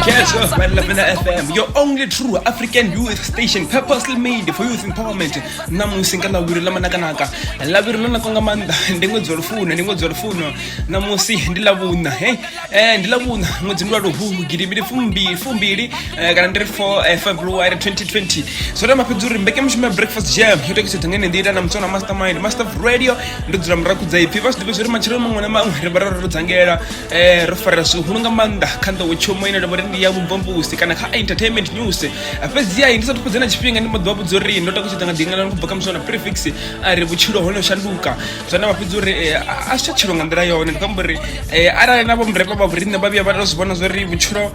Catch us right La Vena FM, your only true African youth station purposely made for youth empowerment. Namusi nga lavhiri ḽa manakanaka. Lavhiri ḽo naka nga maanḓa, ndi ṅwedzi wa lufuno, ndi ṅwedzi wa lufuno. Namusi ndi lavhuṋa, hey. Eh ndi lavhuṋa, ṅwedzi ndi wa luhuhu gidi mbili fumbili fumbili eh, kana ndi ri 4 eh, February 2020. Zwo tama fhedzi uri mbekanyamushumo ya Breakfast Jam yo tekisa thangene ndi ita na mtsona mastermind, master of radio. Ndo dzula muraku dza ipfi, vha zwi ḓivha zwi ri matshelo maṅwe na maṅwe ri vha ro ro dzangela. eh ro farela zwihulu nga maanḓa kha nḓowetshomo ine nda vha uri ndi ya vhumbombusi kana kha entertainment news fhedziha ndi sa thukhudze na tshifhinga ndi mboḓi wa vhudza uri ndo takutshedza nga ḓingalano kubva kha musona prefix a ri vhutshilo ho no shanduka zwa na vha fhedza uri a si tsha tshilo nga nḓila yone ndi khou amba uri arali na vho murema vha vhoriṋe vha vhuya vha to zwi vhona zwa uri vhutshilo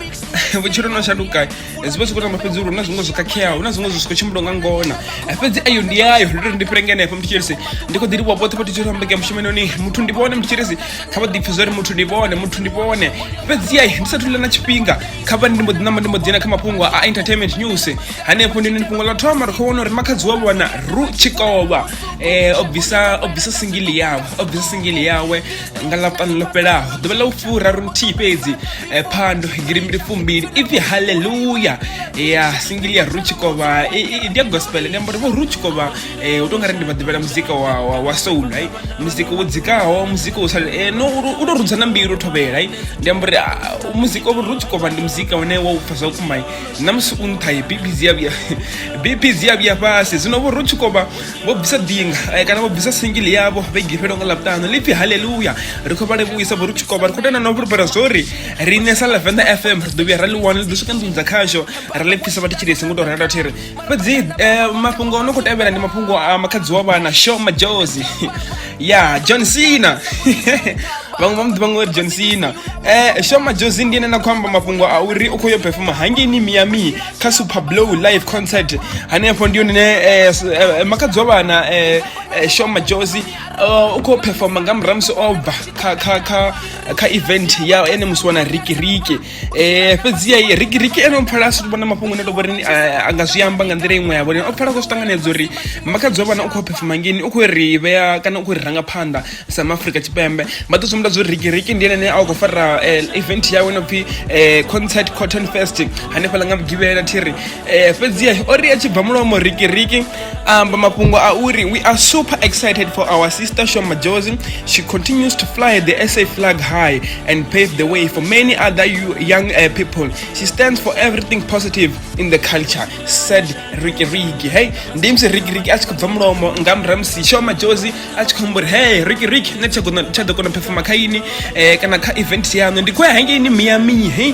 vhutshilo no shanduka eh, zwi vha zwi khou tamba fhedzi uri huna zwiṅwe zwo khakheaho huna zwiṅwe zwi zwi khou tshimbila nga ngona eh, fhedzi ayo ndi yayo ndi tori ndi fhire ngenefho muthu tshirisi ndi khou ḓi livhuwa vhoṱhe vhathu tshiri ambeke mushumenoni muthu ndi vhone muthu tshirisi kha vha ḓipfhe zwori muthu ndi vhone muthu ndi vhone fhedzi yayi ndi sathu ḽa na tshifhinga kha vha ndi mbo ḓi namba ndi mbo dzhena kha mafhungo a entertainment news hanefho ndi fhungo ḽa thoma ri khou vhona uri makhadzi wa vhona ru tshikovha um eh, o bvisa o bvisa singili yawe o bvisa singili yawe nga ḽa vhuṱanu ḽo fhelaho ḓuvha ḽa u fura ro nthihi fhedzi eh, phando girimbili fumbili ipfi halleluya ya singili ya rutshikovha ndi ya gospel ndi amba uri vho rutshikovha eh, u to nga ri ndi vha ḓivhela muzika wa, wa, wa soul ai muzika wo dzikaho muzika wo sale eh, no u to rudza na mbilu u thovhela ai ndi amba uri ah, muzika wa rutshikovha ndi muzika une wa u pfa zwa vhukuma na musi u nṱha bpz ya vhuya bpz ya vhuya fhasi zwino vho rutshikovha vho bvisa dinga eh, kana vho bvisa singili yavho vhege fhelo nga ḽavhuṱanu lipfi halleluya ri khou vha livhuisa vho ri tshikovha ri khou tenda na u fhulufhela zwo ri riṋe sa lavenda fm ri ḓo vhuya ra ḽi wana ḽi ḓo swika nḓuni dza khasho ra ḽi pfisa vhathu tshilesi ngo tou renda thiri fhedzi eh, mafhungo o no khou tevhela ndi mafhungo a makhadzi wa vhana sho majozi ya john cena vhaṅwe vha muḓivha ngori john cena um shoma josi ndi ene na khou amba mafhungo a uri u khou yo pefoma hangeini miami kha super blow live concert hanefho ndi yone eh, eh, makadzi wa vhana um shoma josi u khou pefoma nga muramusi o bva kha event ya ene musi wana rikiriki eh fhedzi ai riki riki ene o pfala a si vhona mafhungo ne to vhori eh, a nga zwi amba nga nḓila iṅwe ya vhori o pfala ko ṱanganedza uri makadzi wa vhana u khou phefuma ngeni u khou ri vhea kana u khou ri ranga phanḓa sa maafrika tshipembe vha ḓo sumbedza uri riki riki ndi ene a khou fara eh, event yawe no pfi eh, concert cotton fest hanefhaḽa nga vhugivhela thiri Eh, fhedziha o ri a tshi bva mulomo rikiriki a amba mafhungo a uri we are super excited for our sister show majozi she continues to fly the sa flag high and pave the way for many other you, young uh, people she stands for everything positive in the culture said rikiriki hey ndi musi rikiriki a tshi khou bva mulomo nga murahu musi show majozi a tshi khou amba uri hey rikiriki nṋe tsha ḓo kona phefoma kha ini um kana kha event yaṋu ndi khou ya hangeini miami hey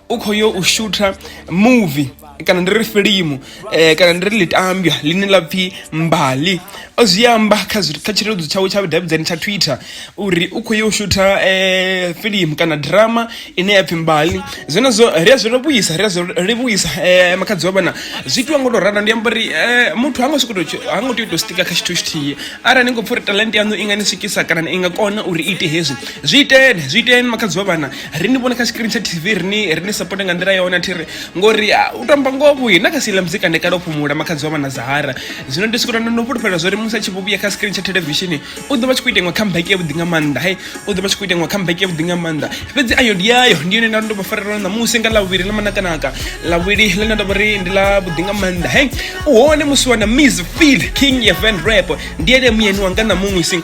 u khou yo u shutha movie kana ndi ri filimu eh, kana ndi ri litambya line la pfhi mbali o zwi amba kha kha tshileludzi tshawe tsha vhudavhidzani tsha twitter uri u khou ya u shutha eh, filimu kana drama ine ya pfhi mbali zwenezwo ri a zwi livhuisa ri a zwi livhuisa eh, makhadzi wa vhana zwi itiwa ngo to ralo ndi amba uri eh, muthu ha ngo sokoto ha ngo tea u tou stika kha tshithu tshithihi arali ni khou pfha uri talent yaṋu i nga ni swikisa kana i nga kona uri i ite hezwi zwi iteni zwi iteni makhadzi wa vhana ri ni vhone kha screen tsha tv ri ni ri ni support nga nḓila yone athi ri ngori ah, u tamba ngoho vhuyi na kha sila muzika ndi kale u fhumula makhadzi wa vha na zahara zwino ndi sikuta no fhulufhela zwo ri musi a tshi vhuya kha screen tsha television u ḓo vha tshi khou ita iṅwe comeback ya vhuḓi nga maanḓa hai u ḓo vha tshi khou ita iṅwe comeback ya vhuḓi nga maanḓa fhedzi ayo ndi yayo ndi yone nda ndo vha farela na musi nga lavhuvhili na manakanaka lavhuvhili ḽe nda ndo vha ri ndi ḽa vhuḓi nga maanḓa hai u hone musi wana miss feel king ya van rap ndi ene muyeni wanga na musi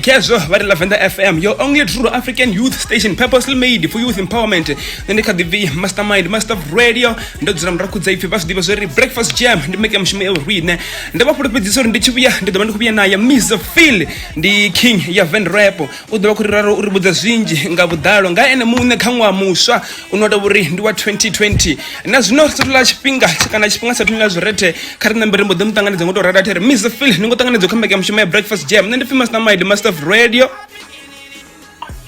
khezwo vha ri lavenda fm your only true african youth station purposely made for youth empowerment nṋe ndi kha ḓi bvi mastermind master of radio ndo dzula murahu khudza ipfi vha zwi ḓivha zwo ri breakfast jam ndi make mushumo ya urine ndo vha fhulufhedzisa uri ndi tshi vhuya ndi ḓo vha ndi khou vhuya naye mr phil ndi king ya van rap u ḓo vha khou ri raro uri vhudza zwinzhi nga vhuḓalo nga ene muṋe kha ṅwaha muswa une wa tou uri ndi wa 2020 na zwino ri satula tshifhinga kana tshifhinga sa thomela zwirete kha ri nambe ri mbo ḓi mu ṱanganedza ngo tou rada thiri miss phil ni ngo ṱanganedza kha mbekanya mushumo ya breakfast jam nṋe ndi pfi master maid master of radio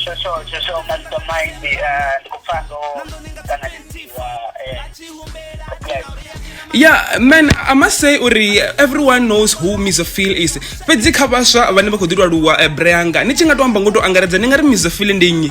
shosho shosho master mind ndi khou pfa ndo ṱanganedziwa yeah man i must say uri everyone knows who misophil is fhedzi kha vhaswa vhane vha khou ḓi lwaluwa eh, breanga ni tshi nga to amba ngo to angaredza ni nga ri misophil ndi nnyi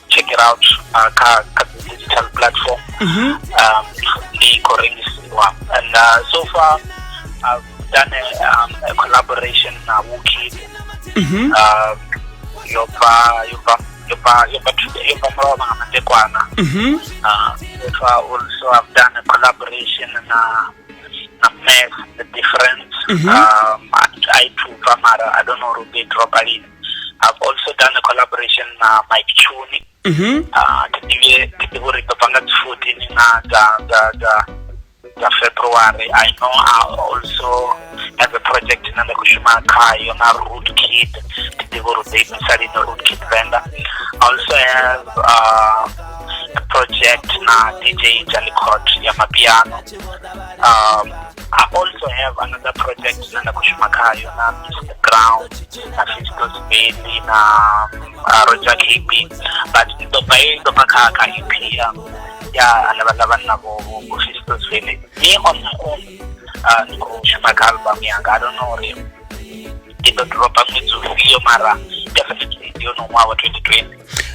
check it out uh, kha kha dzi digital platform um ndi khou rengisiwa and uh, so far i've done a, um, a collaboration na wukid um, yo bva yo bva yo bva yo bva thu- yo bva mulovha nga matekwana Mhm. uh, so far also i've done a collaboration na na math the difference um, i i to mara i don't know uri u ḓo i dropa lini I've also done a collaboration na Mike Chuni Mhm. Ah, ke ḓivhe ke ḓivhe uri ḓo bva nga dzi 14 na dza dza dza dza february i know i also have a project ine nda khou shuma khayo na root kid ke ḓivhe uri ḓo imisa lini root kid venda i also have uh, a project na dj jalicot ya mapiano um, I also have another project ine nda khou shuma khayo na Mr Ground na Fistos Baby na uh, Roger KB but ndi ḓo bva i ḓo bva kha kha EP ya ya hanevha ḽa vhanna vho vho vho Fistos Baby me on my own uh, ndi khou shuma kha album yanga I don't know uri ndi ḓo dropa ṅwedzi ufhio mara definitely ndi yone ṅwaha wa 2020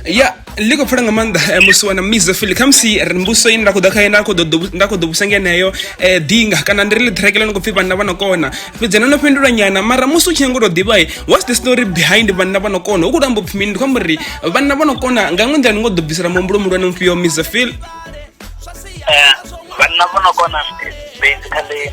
ya ḽi khou pfela nga maanḓa eh, musi wana misa fili khamusi mbuso ine nda khou ḓa khayo nda khou ḓo vhusa ngeneyo eh, dinga kana ndi ri ḽi ṱhirekele no khou pfhi vhanna vha no kona fhedzi no no fhindula nyana mara musi u tshi nyanga u tou ḓivha eh, what's the story behind vhanna vha no kona u khou tou amba upfhi mini ndi khou amba uri vhanna vha no kona nga ṅwe nḓila ni ngo ḓo bvisela muhumbulo muhulwane mufhio misa fili vhanna vha no kona basically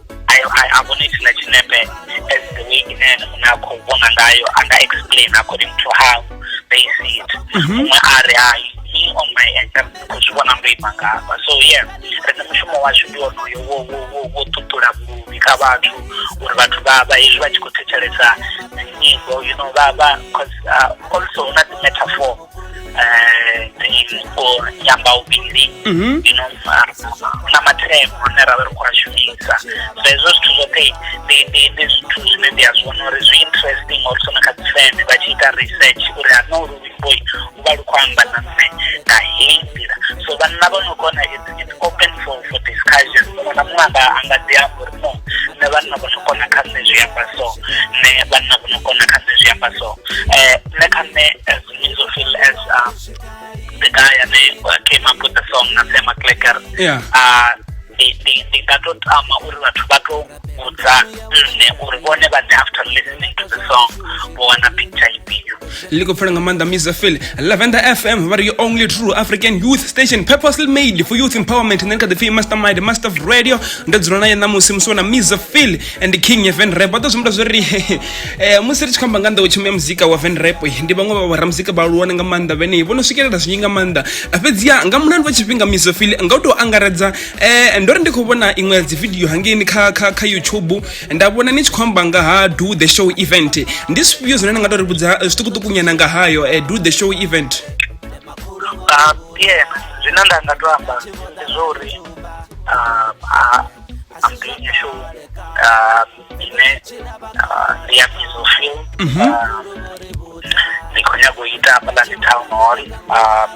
I, I, I wanted to let you know that as the way in and unakho ubona ngayo and I explain according to how they see it. Mhm. Umwe ari hayi me on my end because ubona ndo ima ngapa. So yeah, rine mushumo washu ndi wonoyo wo wo wo wo tutula vhuluvhi kha vhathu uri vhathu vha vha hezwi vha tshi khou thetshelesa nyimbo you know vha vha because uh, also una dzi metaphor eh, ndi mupo nyambauvhili mhm. you know na mathemu ane ra vha ri khou a shumisa so hezwo zwithu zwoṱhe ndi zwithu zwine ndi a zwi vhona uri zwi interesting or sona kha dzifeme vha tshi ita research uri ano luimboi u vha lu khou amba na nṋe nga heyi nḓila so vhanna vha no kona it's open for for discussion muṅwe na muṅwe anga anga ḓi amba uri no nṋe vhanna vho no kona kha nṋe zwi amba so nṋe vhanna vho no kona kha nṋe zwi amba so eh nṋe kha nṋe as mizo feel as um, the guy ane uh, came up with the song na Sam McLecker Yeah. ah ndi ndi ndi nga to tama uri vhathu vha to kudzana nṋe uri vhone vha ḓe after listening to the song vho wana picture ifhio ḽi khou pfela nga maanḓa misa phil lavender fm vha ri your only true african youth station purposely made for youth empowerment nṋe ndi kha ḓi pfhi mastermind master of radio ndo dzula naye ṋamusi musi wana misa phil and king ya van rap vha ḓo zwimbula zwo ri eh, musi ri tshi khou amba nga nḓowetshumo ya muzika wa van rap eh, ndi vhaṅwe vha vharamuzika vha aluwane nga maanḓa vhenei vho no swikelela zwinzhi nga maanḓa fhedziha nga mulandu wa tshifhinga misa phil nga u tou angaredza eh ndo ri ndi khou vhona iṅwe ya dzividio hangeini kha kha kha youtube nda vhona ni tshi khou amba nga ha do the show event ndi zwifhio zwine ni nga to ri vhudza eh, zwiṱukuṱukunyana nga hayo eh, do the show event Ah, yeah zwine nda nga to amba ndi zwa uri ah, ah, I'm doing a show ah, ine ah, ndi ya mizofil ndi khou nyanga u ita hafhaḽani town hall ah,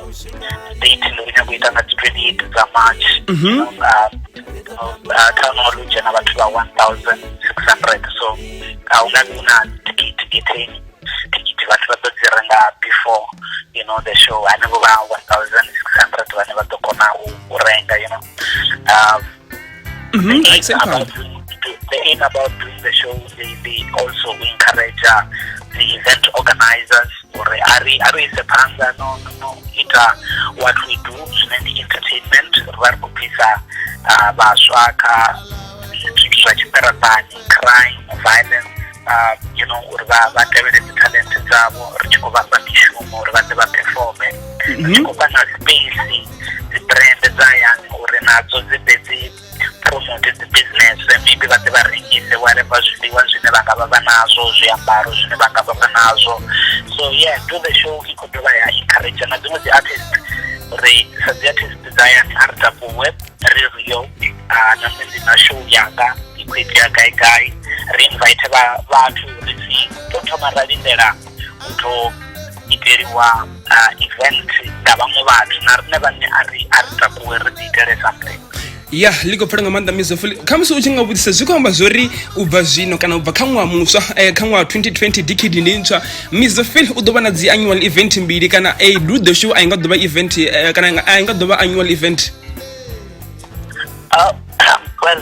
date ndi khou nyanga u ita nga dzi twenty eight dza march Ah, ah, town hall u dzhena vhathu vha one thousand six hundred so a hu nga vhi hu na tikiti getheni tikiti vhathu vha ḓo dzi renga before you know the show hanevho vha one thousand six hundred vhane vha ḓo kona u u renga you know um, Mm -hmm. They ain't about they ain't about doing the show. They, they also encourage uh, the event organizers or are we are we sepanga no no it uh, what we do in the entertainment where we please uh, uh baswa ka tshitswa tshiperatani crime violence uh, you know uri vha vha tevhele dzi talent dzavho ri tshi khou vha fha mishumo uri vha ḓe vha performe ri tshi khou vha na space dzi brand dza hayani uri nadzo dzi ḓe dzi promote dzi business maybe vha ḓe vha rengise whatever zwiḽiwa zwine vha nga vha vha nazwo zwiambaro zwine vha nga vha vha nazwo so yeah do the show i khou dovha ya encourage na dziṅwe dzi artist ri sa dzi artist dza hayani a ri takuwe ri rio ah, na nṋe ndi na show yanga i khou itea gai gai ri invite vha vhathu ri si tou thoma ra lindela u ḓo iteliwa uh, event nga vhaṅwe vhathu na riṋe vhane a ri a ri takuwe ri ḓi itele something ya ḽi khou pfela nga maanḓa mizo fuli khamusi u tshi nga vhudzisa zwi khou amba zwori u bva zwino kana u bva kha ṅwaha muswa eh, kha ṅwaha 2020 decade ndi ntswa mizo fil u ḓo vha na dzi annual event mbili kana eh, lu the show a i nga ḓo vha event eh, kana a i nga ḓo vha annual event uh, well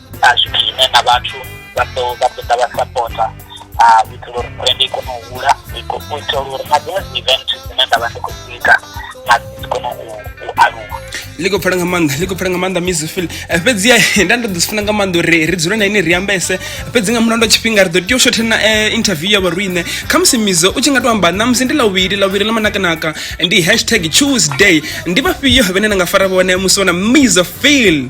a zwi khwine na vhathu vha ḓo vha ḓo ḓa vha sapota a u itela uri brand i kone u hula i ko- u itela uri na dziṅwe dzi event dzine nda vha ndi khou dzi ita na dzi dzi kone u u aluwa ḽi khou pfela nga maanḓa ḽi khou pfela nga maanḓa miss phil Eh, fhedziha nda ndo ḓi zwi funa nga maanḓa uri ri dzule na ine ri ambese fhedzi nga mulandu wa tshifhinga ri ḓo tea u shothe na eh, interview ya vhorine khamusi mizo u tshi nga to amba namusi ndi lawili lawili ḽa manakanaka ndi hashtag tuesday ndi vhafhio vhene na nga fara vhone musi wana mizo phil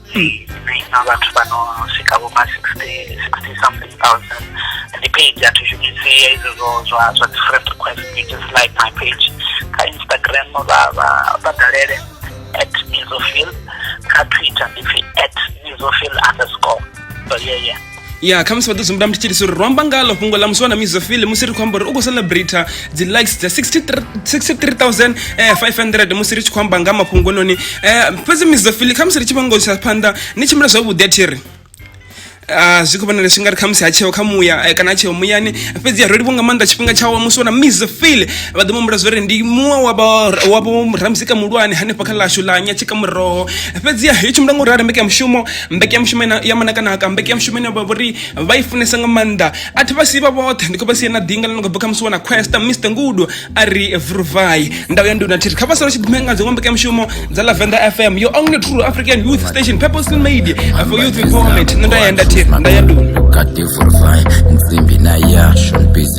na vhathu vha no swika vho ma sixty sixty something thousand ndi page a thi shumisi izwo zwo zwa zwa different request you just like my page kha instagram vha vha vha dalele at mizofil kha twitter ndi pfi at mizofil underscore so yeah yeah ya khamusi vha ḓo zwimbula mthitshilisi uri ro amba ngalo fhungo ḽa musi wa na mizofili musi ri khou amba uri u khou celebrata dzi likes dza 63500 eh, musi ri tshi khou amba nga mafhungo noni um eh, fhedzi mizofili khamusi ri tshi vhongo tsha phanḓa ni tshimbila zwavhuḓi a thi ri Ah, zwi khou vhonala zwi nga ri khamusi ha tsheo kha muya eh, kana ha tsheo muyani fhedzi ya roliwa nga maanḓa tshifhinga tshawa musi wana miss fil vha ḓo mumbula zwo ri ndi muṅwe wavho ramuzika muhulwane hanefha kha ḽashu ḽa nyatshika muroho fhedzi ya yo tshimbila nga u rali mbeka mushumo mbekanyamushumo ina- ya manakanaka mbekanyamushumo ine vha vhori vha i funesa nga maanḓa a thi vha sivha vhoṱhe ndi khou vha sia na ḓinga ḽi no khou bva kha musi wana questa mr ngudo a ri vruvai ndau ya nduna thiri kha vha sala tshi ḓimea nga dziṅwe mbekanyamushumo dza lavenda fm your only true african youth station purposely made for youth empowerment nṋe nda ya nda thiri nda ya nduna Kati vurvai, nsimbi na yasho, nbizi